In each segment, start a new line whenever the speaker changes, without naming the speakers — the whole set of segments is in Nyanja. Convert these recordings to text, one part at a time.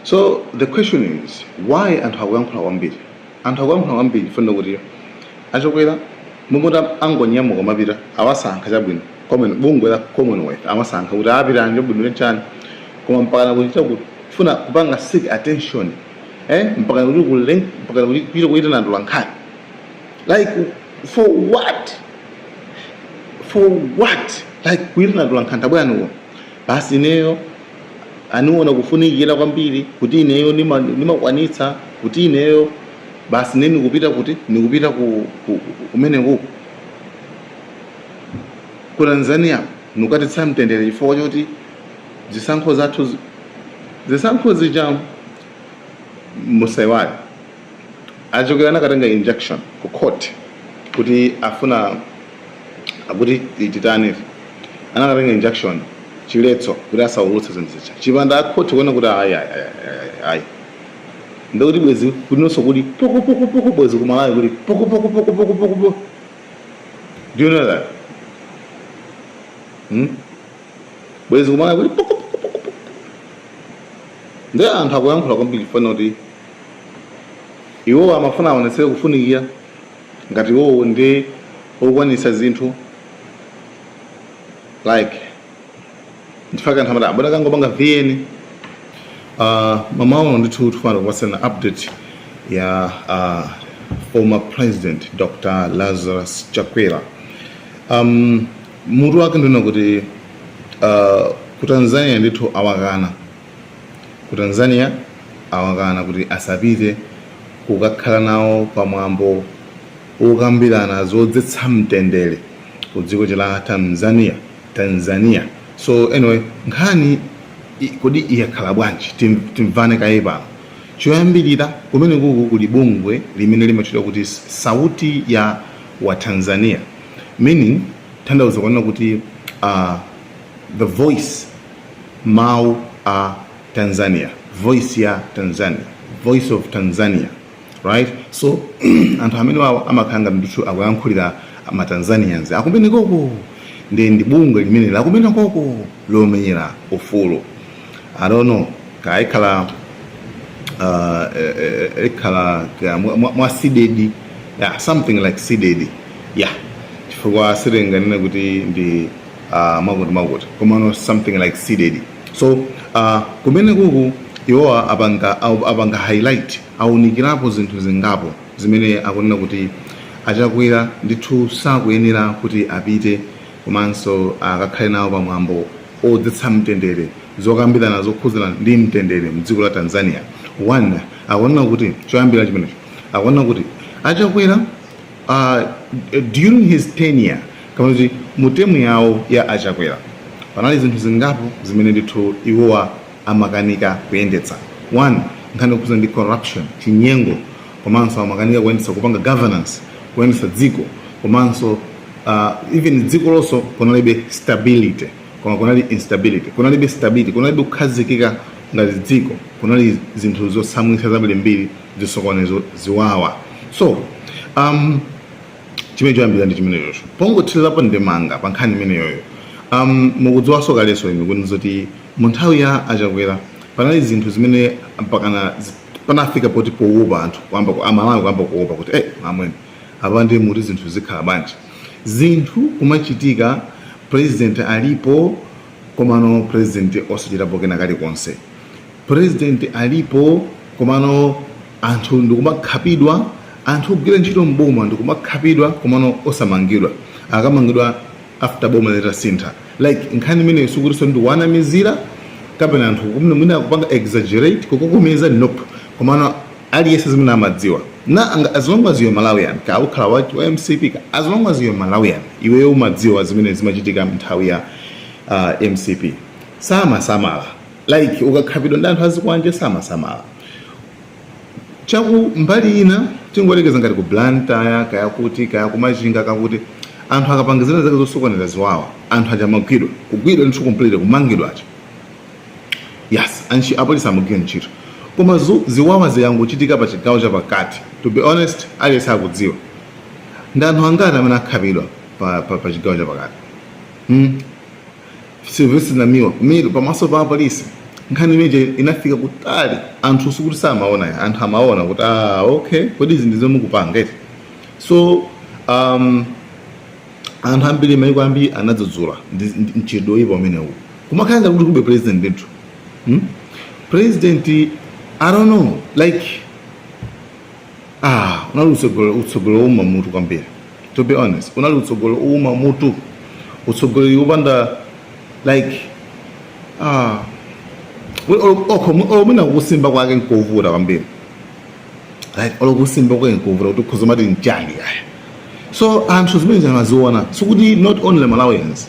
So the question is why anthu akuyankhula kwambiri? Anthu akuyankhula kwambiri funa kuti achokwera mumoti angonyamuka mapita awasankha chabwino komwe bungwe la Commonwealth amasankha kuti apita anje bwino chani koma mpaka kuchita kufuna kupanga seek attention eh mpaka kuti kule mpaka kuti kuchita kuitana atolankhani like for what for what like kuitana atolankhani tabwerani basi ineyo aniona kufunikira kwambiri kuti ineyo nima- nimakwanitsa kuti ineyo basi ine nikupita kuti nikupita ku, ku, ku- kumenekuku ku tanzania nukadzetsa mtendere chifukwa choti zisankho zathu zi- zisankho zija musaiwale a Chakwera anakatenga injunction ku court kuti amafuna kuti atani ife anakatenga injunction chiletso kuti asaulutse zinthu zija chipanda akhoti kuona kuti ayi ayi, ayi, ayi, ayi. ndikuti bwezi kulinonso kuli pukupukupuku bwezi kumalawi kuli pukupukupukupukupuku do you know that hmm? bwezi kumalawi kuli pukupukupukupuku ndi anthu akuyankhula kwambiri fana kuti iwowo amafuna aonetse kufunikira ngati iwowo ndi okwanitsa zinthu like ndi chifukwa chake anthu amati abwere akangopanga vn uh, mmawa uno ndithu tikufuna kupatsana update ya uh, former president dr lazarus chakwera um, mutu wake ndi wonena kuti uh, ku tanzania ndithu awakana Ku Tanzania awakana kuti asapite kukakhala nawo pa mwambo wokambirana zodzetsa mtendere ku dziko lija la Tamzania, Tanzania. So anyway, nkhani i- kodi yakhala bwanji? Tim- Timvane kaye pano. Choyambirira kumenekuku kuli bungwe limene limatchedwa kuti S- Sauti ya wa Tanzania meaning kutanthauza kunena kuti uh, the voice Mawu a Tanzania, voice ya Tanzania, voice of Tanzania, right? So anthu amenewawo amakhala ngati ndithu akuyankhulira ma Tanzanians akumenekoko ndi ndi bungwe limene lakumenekoko lomenyera ufulu I don't know kaya ikhala uh, eh, eh, eh, ikhala ya, mwa- mwa mwa CDEDI yeah, something like CDEDI yeah chifukwa sitinganene kuti ndi uh, mwakuti mwakuti komano something like seeded so uh, kumene kuku iwowa apanga au- apanga highlight aunikirapo zinthu zingapo zimene akunena kuti a Chakwera ndithu sakuyenera kuti apite komanso akakhale nawo pamwambo odzetsa mtendere zokambirana zokhuzana ndi mtendere mdziko la Tanzania one akunena kuti choyambira chimenecho akunena kuti achakwera Uh, during his tenure kapena kuti mu temu yawo ya a Chakwera panali zinthu zingapo zimene ndithu iwowa amakanika kuyendetsa one nkhani yokhuzana ndi corruption chinyengo komanso amakanika kuyendetsa kupanga governance kuyendetsa dziko komanso uh, even dziko lonso kunalibe stability koma kunali instability kunalibe stability kunalibe kukhazikika ngati dziko kunali zinthu zotsamwitsa zambirimbiri zisokonezo ziwawa so um, chimene choyambira ndi chimenechocho pongothirirapo ndemanga pa nkhani imeneyoyo um, mukudziwanso kalenso inu kuti zoti mu nthawi ya a Chakwera panali zinthu zimene mpakana zi- panafika poti powopa anthu kuyamba ku- aMalawi kuyamba kuwopa kuti eh amwene apa ndiye kuti zinthu zikhala bwanji zinthu kumachitika president alipo komano president osachitapo kena kena kalikonse president alipo komano anthu ndikumakhapidwa anthu ogwira ntchito mboma ndikumakhapidwa komano osamangidwa akamangidwa after boma litasintha like nkhani imeneyo sikutinso ndikuwanamizira kapena anthu kumene mwina akupanga exaggerate kukokomeza nope komano aliyense zimene amadziwa na anga- as long as you're Malawian kaya ukhala wa wa MCP kaya as long as you're Malawian iweyo umadziwa zimene zimachitika mnthawi ya uh, MCP samasamala like ukakhapidwa ndi anthu azikwanje samasamala chakumbali ina tingoyerekeza ngati ku Blantyre kaya kuti kaya ku Machinga kaya kuti anthu akapangizana zake zosokoneza ziwawa anthu aja amagwidwa kugwidwa ndithu complete kumangidwa aja yes anchi apolisi amagwira ntchito koma zu- ziwawa zikangochitika pa chigawo cha pakati to be honest aliyense akudziwa ndi anthu angati amene akhapidwa pa, pa, pa chigawo cha pakati mm. Sylvester Namiwa kumene pamaso pa apolisi nkhani imeneyi inafika kutali anthu sikuti samaona ayi anthu amaona kuti ah okay kodi izi ndi zimene mukupanga eti so um, anthu ambiri maiko ambiri anadzudzula ndi- ndi- mchitidwe oyipa umenewu kumakhala ngati kuti kulibe president ndithu hmm? president i don't know like ah unali utsogole utsogoleri wouma mutu kwambiri to be honest unali utsogoleri wouma mutu utsogoleri wopanda like ah we- olo- okho mu- olo mwina kusimba kwake nkovuta kwambiri like olo kusimba kwake nkovuta kuti ukhoza kumati nchani kaya so anthu zimene zamaziona sikuti not only malawians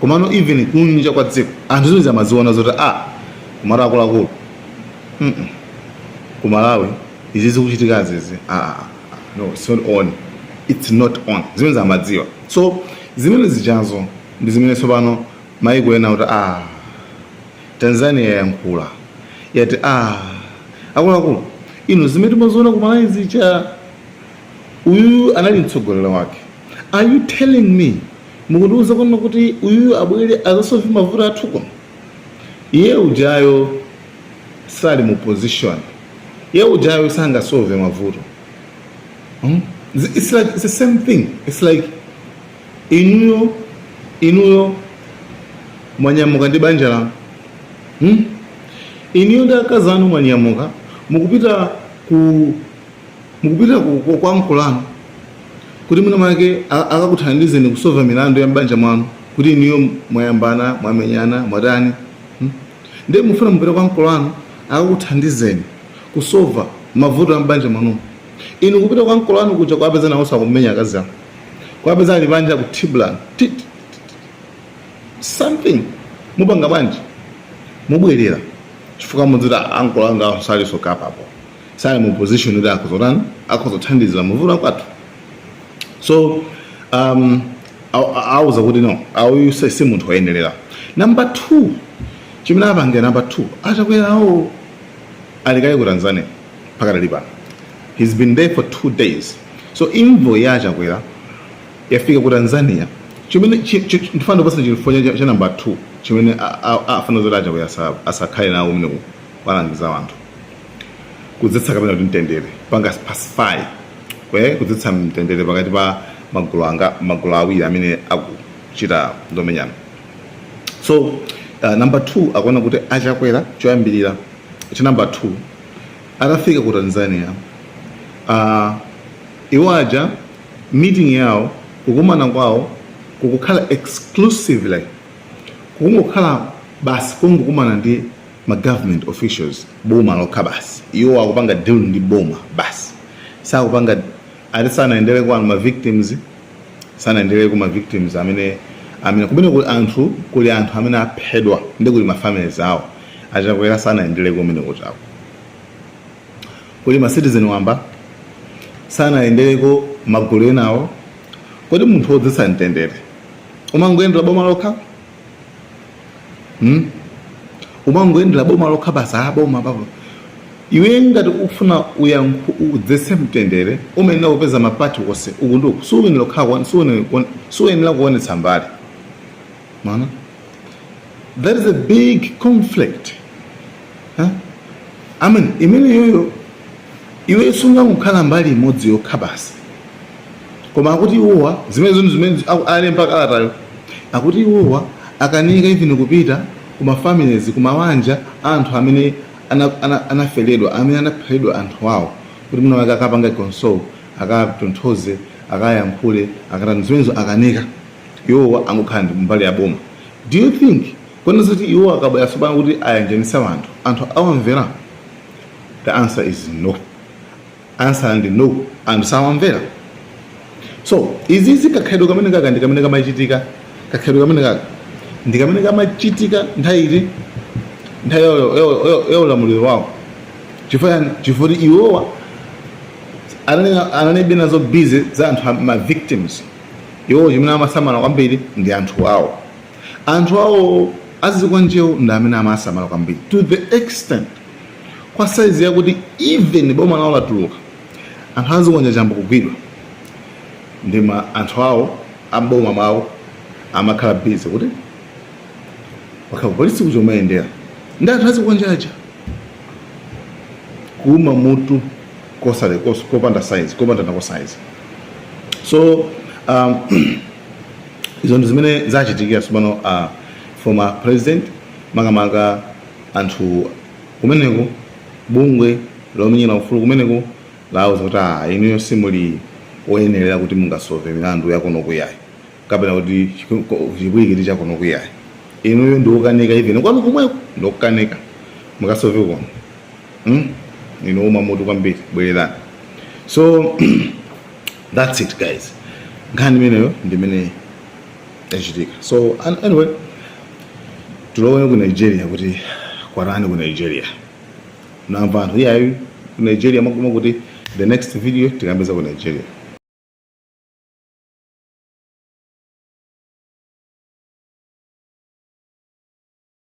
komano even kunja kwa dziko anthu zimene zamaziona zoti ah kumati akuluakulu kumalawi izi zikuchitikazizi ah, ah, ah. no it's not on it's not on zimene amadziwa so zimene zijazo ndi zimene tsopano maiko ena kuti ah tanzania yayankhula yati ah akuluakulu inu zimene timaziona ku malawi zija uyuyu anali mtsogoleri wake are you telling me mukundiuza kunena kuti uyuyu abwere azasove mavuto athu kuno iye ujayo sali mu position iye ujayo sangasove mavuto hmm? it's like it's the same thing it's like inuyo inuyo mwanyamuka ndi banja lanu hmm? inuyo ndi akazi anu mwanyamuka mukupita ku mukupita ku kwa ankolo anu kuti mwina mwake akakuthandizeni kusova milandu ya m'banja mwanu kuti inuyo mwayambana mwamenyana mwatani Ndiye mukufuna mupite kwa ankolo anu akakuthandizeni kusova mavuto a m'banja mwanumo? Inu kupita kwa ankolo anu kuja kuwapeza nawonso akumenya akazi awo, kuwapeza ali panja akuthibulana ti! ti! ti! ti! something mupanga bwanji? Mubwerera chifukwa mudziti a ankolo angawa salinso capable, sali mu position yoti akhoza kutani, akhoza kuthandizira mavuto akwathu. so um, auza kuti no uyu si si munthu woyenerera namba 2 chimene apangira namba 2 achakwerawo ali kale ku tanzania pakadali pano he's been there for two days so envoy ya achakwera yafika ku tanzania chimene chi- chi- chi- ndifuna ndikupatseni chifukwa cha- cha namba 2 chimene a- a- afuna zoti achakwera asa- asakhale nawo amene alangize anthu kudzetsa kapena kuti mtendere panga pacify kwe kudzetsa mtendere pakati pa magulu a magulu awiri amene akuchita zomenyana so uh, number two akuona kuti achakwera choyambirira cha number two atafika ku tanzania uh, iwo aja meeting yawo kukumana kwawo kukukhala exclusively kukungokhala basi kungokumana ndi ma government officials boma lokha basi iwo akupanga deal ndi boma basi sakupanga ati sanayendere kwa ma victims sanayendere kwa ma victims amene amene kumene kuli anthu kuli anthu amene aphedwa ndi kuli ma families awo achakwera sanayendere kumene kuchako kuli ma citizen wamba sanayendereko magulu enawo kodi munthu wodzetsa mtendere umangoyendera boma lokha hmm? umangoyendera boma lokha basi a boma apa iwe ngati ufuna uyankhu udzetse mtendere umayenera kupeza mapati onse uku ndi uku siuyenera kukhala kuone- siuyenera kuone- siuyenera kuonetsa mbali mwana there is a big conflict huh? imeneyoyo iwe sungangokhala mbali imodzi yokha basi koma akuti iwowa zimene zinthu zimene aku- alemba kalatayo akuti iwowa akanika even kupita ku mafamilies ku mawanja a anthu amene ana- ana- anaferedwa amene anapheredwa anthu awo kuti mwina wake akapanga console akatonthoze akayankhule akatani zimenezo akanika iwowa angokhala ndi mbali ya boma do you think kunena zoti iwowa akabwera tsopano kuti ayanjanisa anthu anthu awamvera the answer is no answer ndi no anthu sawamvera so izizi kakhalidwe kamene kaka ndi kamene kamachitika kakhalidwe kamene kaka ndi kamene kamachitika nthawi iti nthawi ya- ya- ya- ya ulamuliro wawo chifukwa chifukwa iwowa anali- analibe nazo busy za anthu a- ma victims iwowo chimene amasamala kwambiri ndi anthu awo anthu awo azikwanjewo ndi amene amasamala kwambiri to the extent kwa size yakuti even boma lawo latuluka anthu azikwanje ayamba kugwidwa ndi ma anthu awo amboma mawo amakhala busy kuti wakhala polisi kudzamayendera ndi anthu azikwanje aja kuuma mutu kosale kos- kopanda size kopanda nako size so um, izo ndi zimene zachitikira tsopano uh, former president makamaka anthu kumeneko bungwe lomenyera ufulu kumeneko lauza kuti aa inuyo simuli oyenerera kuti mungasove milandu yakunoko iyayi kapena kuti chiku- ko- chipwirikiti chakunoko iyayi inuyo ndiokanika even kwanu kumweko ndiokanika mukasove kuno mm? inu owuma mutu kwambiri bwererani so that's it guys nkhani imeneyo ndimene yachitika so an- anyway tulowere ku nigeria kuti kwatani ku nigeria namva anthu iyayi ku nigeria makuma kuti the next video tikambe za ku nigeria